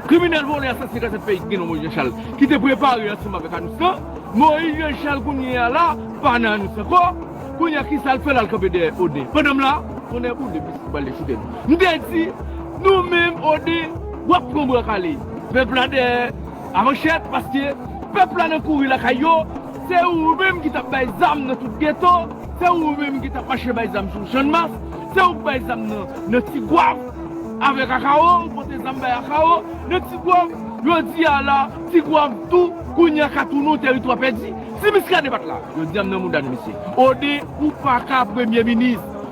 F: kriminèl vòlè asasyen kase peyi ki gen non Moyiz Janchal ki te prepare ansanm avèk Anous lan, Moyiz Janchal kounye a la pa nan Anous ankò, kounye a ki sa l fè l al kanpe dèyè Oden pandan m la? Tonnè boule m, misye pral dechoute m. M te di, nou menm Oden, Wap pran bwa kale. Pep la dèyè a manchèt paske pep la nan kouri lakay yo se ou menm ki tap bay zam nan tout geto se ou menm ki tap mache bay zam sou channmas se ouk bay zam nan nan tigwav avek akawo ou pote zam bay akawo nan tigwav jodi a la tigwav tou kounye a katounou teritwa pèdi si miskaden pat la yo zam nan mouda nou mesye ou paka premye minis.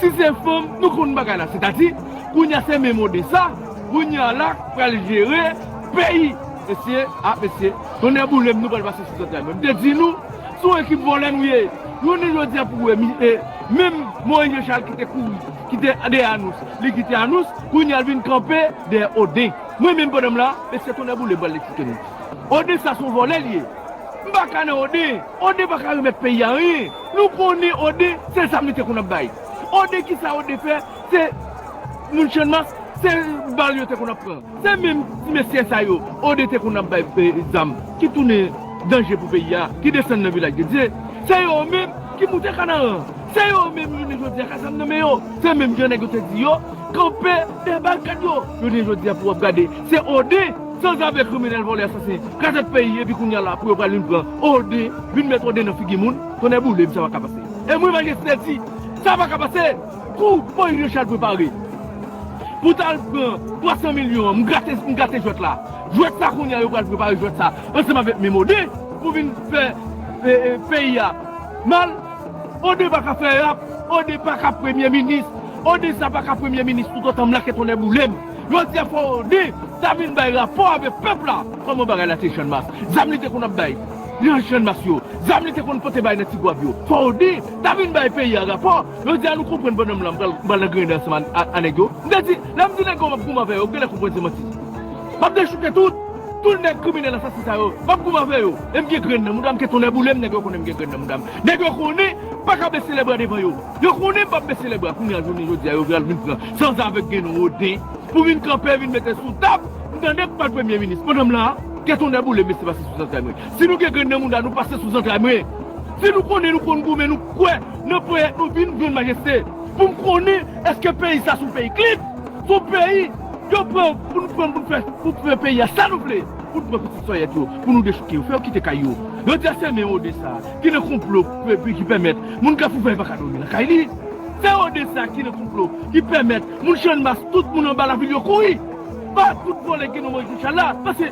F: Si se fanm nou konn bagay la setadi kounya se men mode sa kounya la k pral jere peyi mesye ah mesye tonnè boulem nou pral pase sou zantray mwen m te di nou se yon ekip vòlè nou ye jounen jodia pou wè mi e menm Moïse Jean Charles ki te kouri ki te dèyè anous li kite anous kounya l vin kanpe dèyè oden mwen menm pandan m la mesye tonnè boulem m pral eksplike nou oden sa se yon vòlè l ye m pa ka nan oden. Ode paka remèt peyi anyen nou konnen ode se zam li te konn ap bay ode kisa ode fè se moun channmas se bal yo te konn ap pran se menm ti mesye sa yo ode te konn ap bay zam ki tounen danje pou peyi a ki desann nan vilaj de dye se yo menm ki moute kanaran se yo menm jounen jodi a ka zam nan men yo se menm jan nèg yo te di yo kanpe dèbakad yo jounen jodi a pou wap gade se ode. San zave kriminel vole asasen kraze peyi epi kounya la pou yo pral vin pran ode vin met ode nan figi moun tonnè boulem sa paka pase e mwen majeste di sa paka pase kou Moïse Richard prepare pou tal pran 300 milyon an m grate m grate jwèt la jwèt sa kounya yo pral prepare jwèt sa ansanm avek menm ode pou vin fè peyi a mal ode paka fè rap ode paka premye minis ode sa paka premye minis tout otan m la ke tonnè boulem. Jodia Fowoni ta vin bay rapò avèk pèp la kòman bagay la te channmas zam li te konn ap bay nan channmas yo zam li te konn pote bay nan tigwav yo Fowoni ta vin bay peyi a rapò jodia nou konprann pandan m la m pral m pral angrennen ansanm a nèg yo m te di lè m di nèg yo m ap goumen avè yo ou genlè konprann se manti m ap dechouke tout tout nèg kriminèl asasen sa yo m ap goumen avè yo e m gen grenn nan mouda m ke tonnè boule m nèg yo konnen m gen grenn nan mouda m nèg yo konnen m paka bese lèbra devan yo. Yo konnen m pap bese le bra kounya jounen jodia yo pral vin pran sanzave gen roden pou vin kanpe vin mete sou tab m tande pou pral premye minis pandan m la a kè tonnè boule m mesye pase sou zantray mwen si nou gen grenn nan mouda nou pase sou zantray mwen si nou konnen nou konn goumen nou kwè nan ponyèt nou vin jwenn majeste pou m konnen eske peyi sa son peyi klib son peyi yo pran pou nou pran pou nou fè pou fè peyi a sa nou vle pou nou pran pitit sòyèt yo pou nou dechouke yo fè yo kite kay yo yo di a se men roden sa. Ki nan konplo ki pèmèt moun Kafoufèy pa ka dòmi nan kay li? Se ou de sa ki nan konplo ki pèmèt moun Channmas tout moun anba lavil yo kouri ba kout vòlè ki gen non Moyiz Jachan la? Pase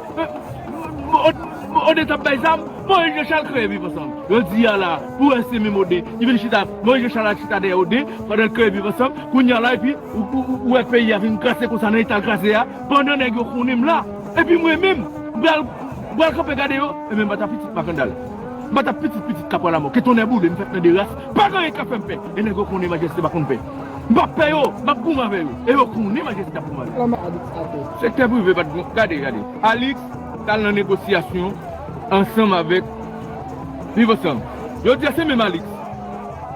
F: Ode t ap bay zam, Moyiz Jachan kreye Viv Ansanm. Jodi a la pou wè se menm Ode ki vin chita Moyiz Jachan al chita dèyè Ode pandan l kreye Viv Ansanm. Kounye a la epi ou wè peyi a vin kraze konsa nan eta l kraze a pandan nèg yo konnen m la epi mwen menm m pral kanpe gade yo. Enben m pa ta pitit Makandal. Batap pitit pitit kapwa lamò ke tonnè boule m fèt nan 2 ras pa gen anyen kap fèm pè e nèg yo konnen majeste pa konn pè m pap pè yo map goumen avè yo e yo konnen majeste ap goumen avè yo. Sektè prive pat gon gade gade Alix tal nan negosyasyon ansanm avèk viv ansanm jodia se menm Alix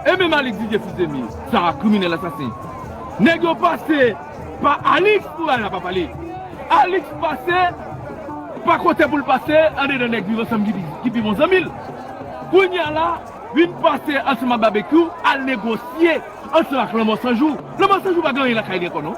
F: e menm Alix Didier fils de mille sa a kriminèl asasen nèg yo pase. Pa Alix pou Lala pa pale. Alix pase pa kote poul pase andedan nèg viv ansanm ki pi bon zanmil. Kounya la vin pase ansanm ak Babekyou al negosye ansanm ak lanmò sanjou. Lanmò sanjou pa gen anyen lakay li ankò non.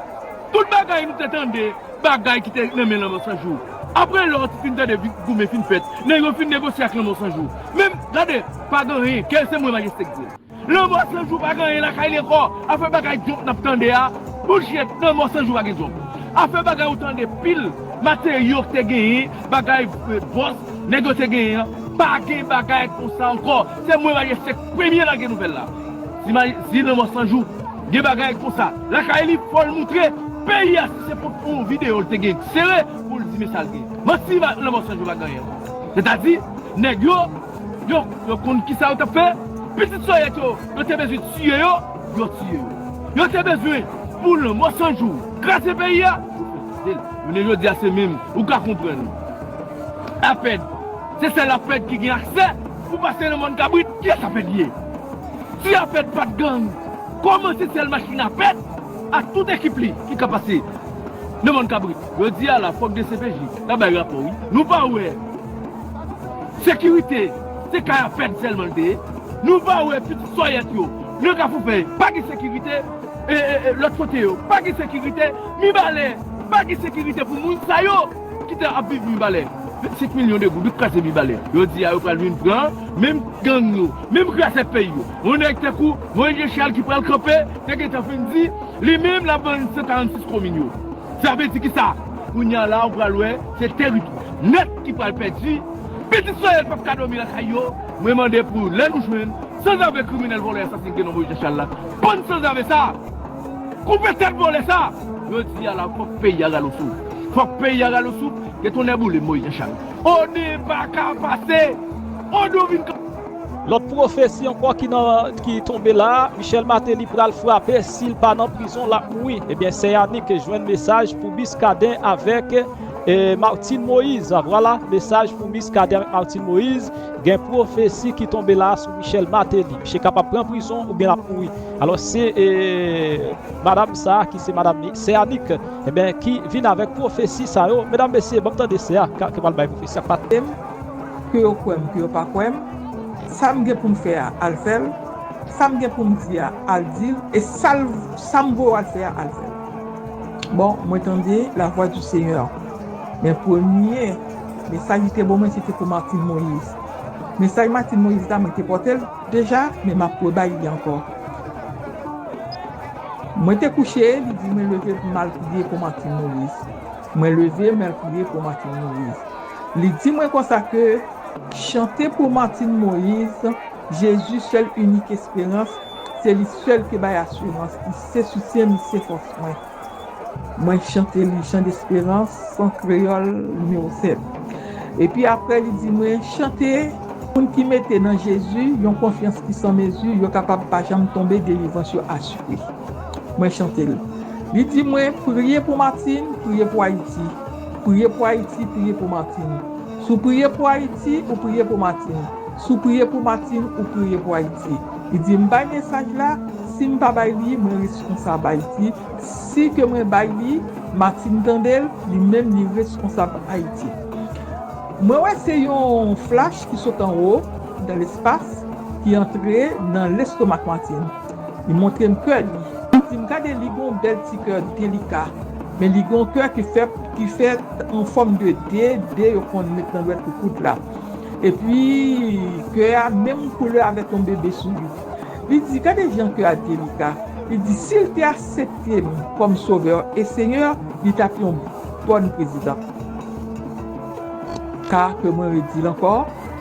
F: Tout bagay nou te tande bagay ki te nan men lanmò sanjou. Aprè lò ti fin tande goumen fin fèt nèg yo fin negosye ak lanmò sanjou. Menm gade pa gen anyen kè se mwen majeste k dil. Lanmò san jou pa gen anyen lakay li ankò afè bagay dyòk nap tande a bullshit lanmò san jou pa gen dyòk afè bagay ou tande pil materyo ki te genyen bagay bòs nèg yo te genyen an pa gen bagay konsa ankò se mwen Marie Esther ki premye lage nouvèl la si lanmò san jou gen bagay konsa lakay li fòl moutre peyi a si se pot pou yon video li te gen sere poul di men sal gen manti lanmò san jou pa gen anyen ankò sètadi nèg yo. Yo, yo konn kisa yo tap fè, pitit sòyèt yo, yo te bezwen tiye yo, yo tiye yo. Yo te bezwen pou lanmò san jou kraze peyi a, yo kraze l. Jounen jodi a se menm, ou ka konprann. Apèd, se sèl Apèd ki gen aksè pou pase nan mòn kabrit, kiyès Apèd li ye? Si Apèd pat gang, kòman se sèl machin Apèd ak tout ekip li ki ka pase nan mòn kabrit? Jodi a la fòk dcpj ta bay rapò wi, nou pa wè. Sekirite se kay a fed selman li te ye nou pa we pitit soyèt yo nan kafou fèy pa gen sekirite e lot kote yo pa gen sekirite mibalè pa gen sekirite pou moun sa yo ki te ap viv mibalè 25 milyon de goud ou kraze mibalè jodi a yo pral vin pran menm gang yo menm kraze fèy yo yon nèg tankou moyiz jechal ki pral kanpe te gentan fin di li menm lap vann 146 komin yo sa vle di kisa kounya la ou pral wè. Se teritwa nèt ki pral pèdi, pitit soyèl pap ka dòmi lakay yo, mwen mande pou lè nou jwenn sanzave kriminèl vòlè asasin Guénon Moïse Jean Charles la pann sanzave sa koupe tèt vòlè sa jodi a la fòk peyi a rale souf fòk peyi a rale souf ke tonnè boulem Moïse Jean Charles one paka pase one ou vin Lòt
A: pwofesi ankò ki tonbe la, Michel Martelly pral frape sil pa nan prizon lap mouri, ebyen sè Yanick jwenn mesaj pou Muscadin avèk Martine Moïse, vwala mesaj pou Muscadin avèk Martine Moïse, gen pwofesi ki tonbe la sou Michel Martelly, misye kapab pran prizon oubyen lap mouri, alò se madam sa ki se madam sè Yanick ebyen ki vin avèk pwofesi sa yo, medam mesye banm tande sè a ki pral bay pwofesi ak Martelly. Ke yo
G: kwè m, ke yo pa kwè m, sa m gen pou m fè a, al fè l, sa m gen pou m di a, al di l, e sa l, sa m voye w al fè a, al fè l. Bon, mwen tande lavwa di Senyè, men premye mesaj li te ban mwen se te pou Martine Moïse. Mesaj Martine Moïse la mwen te pòte l deja, men m ap rebay li ankò. Mwen te kouche, li di mwen leve pou m al priye pou Martine Moïse. Mwen leve, mwen al priye pou Martine Moïse. Li di mwen konsa ke, Chante pou Martine Moise, Jezi sèl inik esperans, se li sèl ki bay asirans, li se soutyen, li se fòs mwen. Mwen chante li Chant d'Espérance an kreyòl nimewo 7. Epi apre li di mwen, Chante, Moun ki mete nan Jezi yon konfyans ki san mezi, yo kapab pa janm tonbe, delivrans yo asire. Mwen chante l. Li di mwen, Priye pou Martine, priye pou Ayiti. Priye pou Ayiti, priye pou Martine. Si w priye pou Ayiti, ou priye pou Martine. Si w priye pou Martine, ou priye pou Ayiti. Li di, M bay mesaj la, si m pa bay li, mwen reskonsab Ayiti. Si ke mwen bay li, Martine tande l, li menm li reskonsab Ayiti. Mwen wè se yon flash ki sot anwo, dan lespas, ki antre nan lestomak Martine. Li montre m kè li. Si m gade li gen yon bèl ti kè delika. Men li gen yon kè ki fè ki fèt an fòm de D, D yo konn met nan lwèt koukout la. Epi kè a menm koulè avèk yon bebe sou li. Li di, gade jan kè a delika. Li di si l te asepte m kòm sovè e senyè li t ap yon bòn prezidan. K, ke mwen redi l ankò,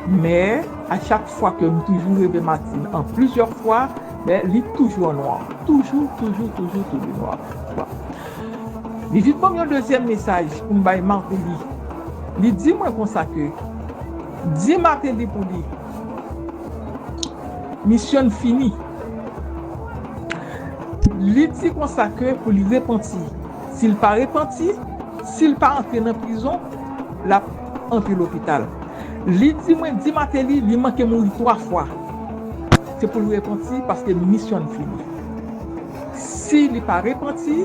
G: men. A chak fwa ke m toujou reve Martine an plizyè fwa men li toujou an nwa toujou toujou toujou toujou nwa bon li vin banm yon dezyèm mesaj pou m bay Martelly li di mwen konsa ke di Martelly pou li misyon n fini li di konsa ke pou li repanti si l pa repanti si l pa antre nan prizon l ap. anpi lopital li di mwen di mateli li manke mouri 3 fwa se poul repanti paske misyonn fini si li pa repanti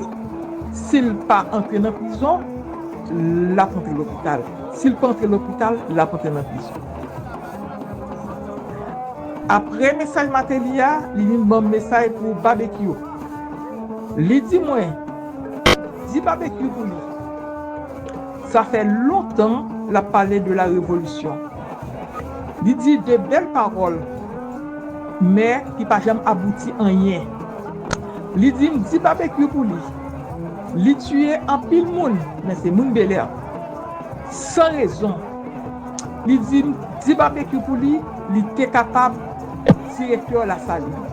G: sil pa antre nan prizon lap antre lopital sil pa antre lopital lap antre nan prizon apre mesaj mateli a li vin banm mesaj pou babekyou li di mwen di babekyou pou li. Sa fè lontan lap pale de la revolisyon. Li di de bèl pawòl men ki pa janm abouti anyen. Li di m di Babekyou pou li. Li tiye anpil moun men se moun Belè. San rezon. Li di m di Babekyou pou li, li te kapab direktè Lasalin.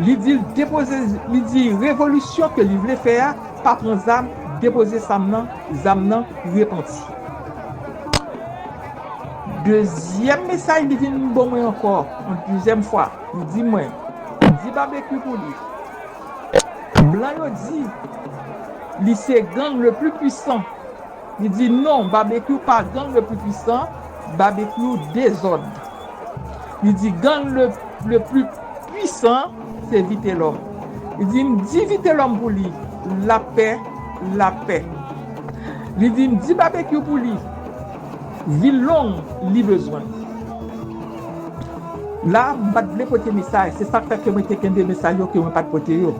G: Li di l depoze li di revolisyon ke li vle fè a. Pa pran zam, depoze sam nan, zam nan, repanti. Dezyèm mesaj li vin ban mwen ankò, yon dezyèm fwa, li di mwen, di Babekyou pou li, blan yo di li se gang le pli pwisan, li di non, Babekyou pa gang le pli pwisan, Babekyou dezòd. Li di gang le plus puissant se Vitelòm. Li di m di Vitelòm pou li lapè, lapè. Li di m di Babekyou pou li vil long li bezwen. La a m pa t vle pote mesaj, se sa k fè ke mwen te kenbe mesaj yo ke mwen pa t pote yo.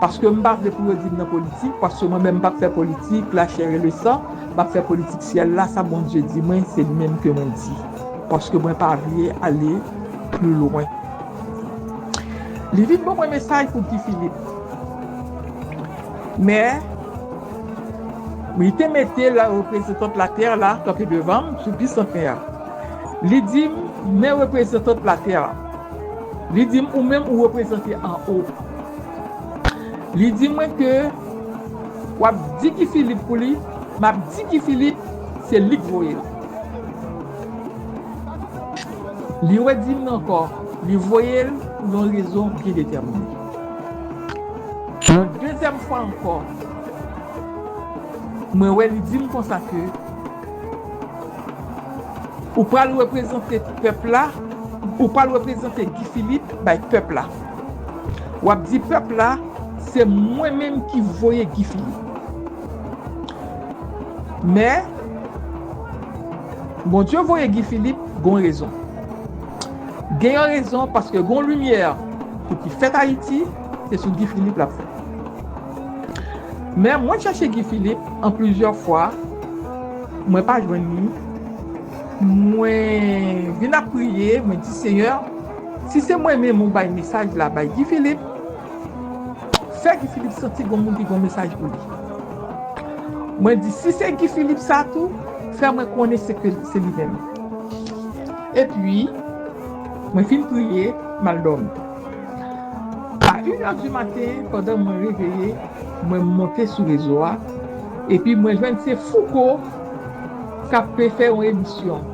G: Paske m pa vle pou yo di m nan politik, paske mwen menm m pa p fè politik la chair et le sang, m ap fè politik syèl la, sa Bondye di mwen se li menm ke mwen di. Paske mwen pa vle ale pli lwen. Li vin ban mwen mesaj pou Guy Philippe. Men, li te mete la reprezentant later la kanpe devan m sou bisantnè a. Li di m, men reprezentant later la. Li di m, ou menm ou reprezante anwo. Li di mwen ke w ap di Guy Philippe pou li, m ap di Guy Philippe se li k voye l. Li redi m ankò, li voye l pou yon rezon byen detèmine. Yon dezyèm fwa ankò, mwen wè li di m konsa ke ou pral reprezante pèp la, ou pral reprezante Guy Philippe bay pèp la. W ap di pèp la se mwen menm ki voye Guy Philippe. Men. Bondye voye Guy Philippe gon rezon gen yon rezon paske gon limyè pou ki fèt ayiti se sou Guy Philippe lap fèt men mwen chèche Guy Philippe an plizyè fwa mwen pa jwenn li mwen vin ap priye mwen di senyè si se mwen menm ou bay mesaj la bay Guy Philippe Fè Guy Philippe santi gon moun ki gon mesaj pou li. Mwen di si se Guy Philippe sa tou, fè mwen konnen se ke se li menm. Epi, mwen fin priye, m al dòmi. A in è di maten, pandan mwen reveye, mwen monte sou rezo a, epi mwen jwenn se Fouco k ap pe fè yon emisyon.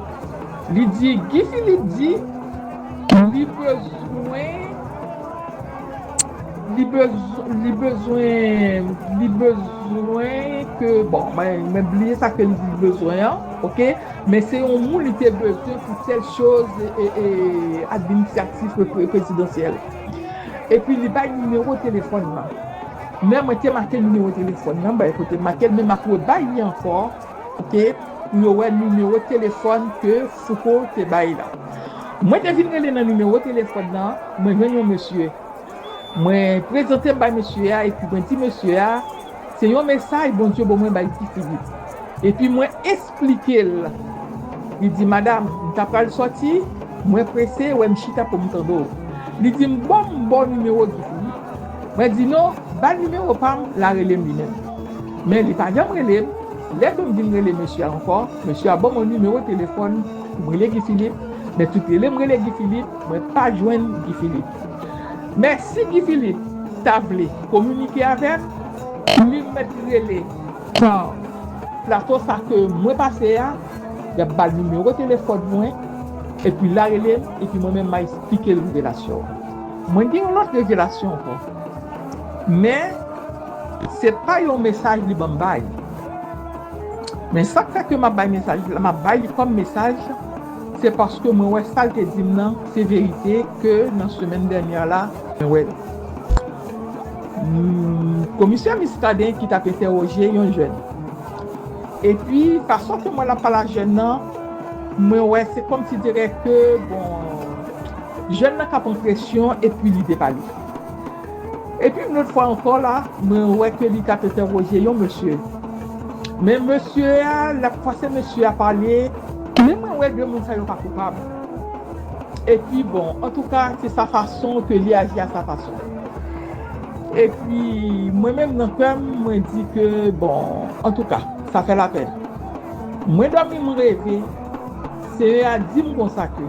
G: Li di Guy Philippe di li bezwen. Li bezwen ke, bon, mwen bliye sa ke li di li bezwen an, ok, men se yon moun li te bezwen pou tèl choz administratif prezidansyèl. E pi li bay nimewo telefòn nan. Men mwen te make nimewo telefòn nan, bay kote make, men m ap rebay li ankò. Kote pou yo wè nimewo telefòn ke Fouco te bay la. Mwen te vin rele nan nimewo telefòn nan, mwen jwenn yon mesye. Mwen prezante m bay mesye a epi mwen di mesye a se yon mesaj Bondye bo mwen bay Ti Filip. Epi mwen esplike l. Li di madam, m ta pral sòti, mwen prese wè m chita pou m tande w. Li di m bon m ba w nimewo Guy Philippe. Mwen di non, ba l nimewo pa m, la rele m li menm. Men li pa janm rele m. Lè ke m vin rele mesye a ankò, mesye a ban mwen nimewo telefòn pou m rele Guy Philippe, men tout rele m rele Guy Philippe, mwen pa jwenn Guy Philippe. Men si Guy Philippe ta vle kominike avè m, li mèt rele nan plato sa ke mwen pase a, y ap ba l nimewo telefòn mwen, epi la rele m, epi mwen menm ma esplike l revelasyon an. Mwen gen yon lòt revelasyon ankò. Men. Se pa yon mesaj li banm bay. Men sak fè ke map bay mesaj li la, map bay li kòm mesaj, se paske mwen wè sal te dim nan se verite ke nan semèn dènyè la, mwen wè komisè Muscadin ki tap entèwoje yon jèn. Epi fason ke m wè lap pale a jèn nan, mwen wè se kòm si dirè ke bon jèn nan ka pran presyon epi li depale. Epi yon lòt fwa ankò la, mwen wè ke li tap entèwoje yon mesye. Men mesye a, lap fòse mesye a pale. Men mwen wè de moun sa yo pa koupab. Epi bon, antouka se sa fason ke li aji a sa fason. Epi mwen menm nan kè m, mwen di ke bon, antouka, sa fè lapèn. Mwen dòmi m reve. Senyè a di m konsa ke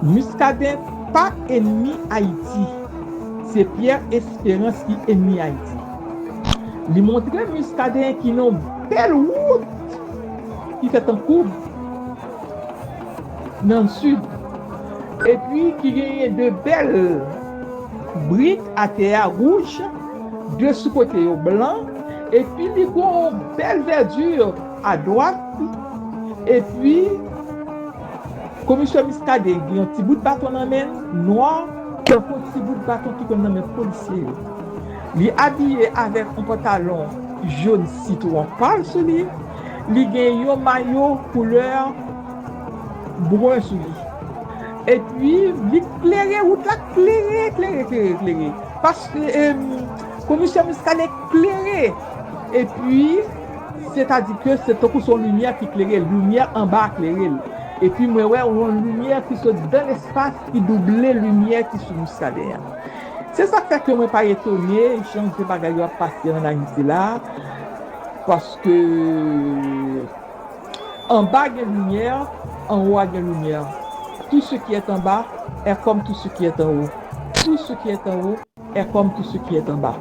G: Muscadin pa enmi Ayiti, se Pierre Esperance ki enmi Ayiti. Li montre Muscadin ki nan yon bèl wout ki fèt an koub nan Sid, epi ki genyen 2 bèl brik atè a wouj, 2 sou kote yo blan, epi li gon yon bèl verdure. a dwat epi komisè Muscadin gen yon ti bout baton nan men l nwa tankou ti bout baton ki konn nan men polisye yo li abiye avèk yon pantalon jon sitwon pal sou li li gen yon mayo koulè brun sou li epi li klere wout la klere klere klere klere paske komisè Muscadin klere epi. Sètadi ke se tankou se yon limyè ki klere l, limyè anba a klere l. Epi mwen wè yon limyè ki sot dan lespas ki double limyè ki sou Muscadin an. Se sa k fè ke mwen pa etone jan ke bagay yo ap pase an Ayiti la a, paske anba a gen limyè, anwo a gen limyè. Tout ce qui est en bas est comme tout ce qui est en haut. Tout ce qui est en haut È kòm tou se ki è tan ba.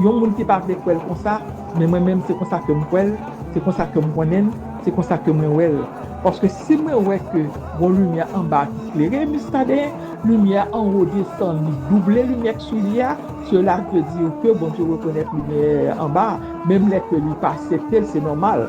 G: Yon moun ki pa vle kwèl konsa, men mwen menm se konsa kem kwèl, se konsa kem konnenn, se konsa ke mwen wèl. Paske si mwen wè ke gon limyè anba ki klere Muscadin, limyè anwo desann li double limyè k sou li a, cela veut dire ke Bondye rekonèt limyè anba, menm lè ke li pa aseptel se nòmal.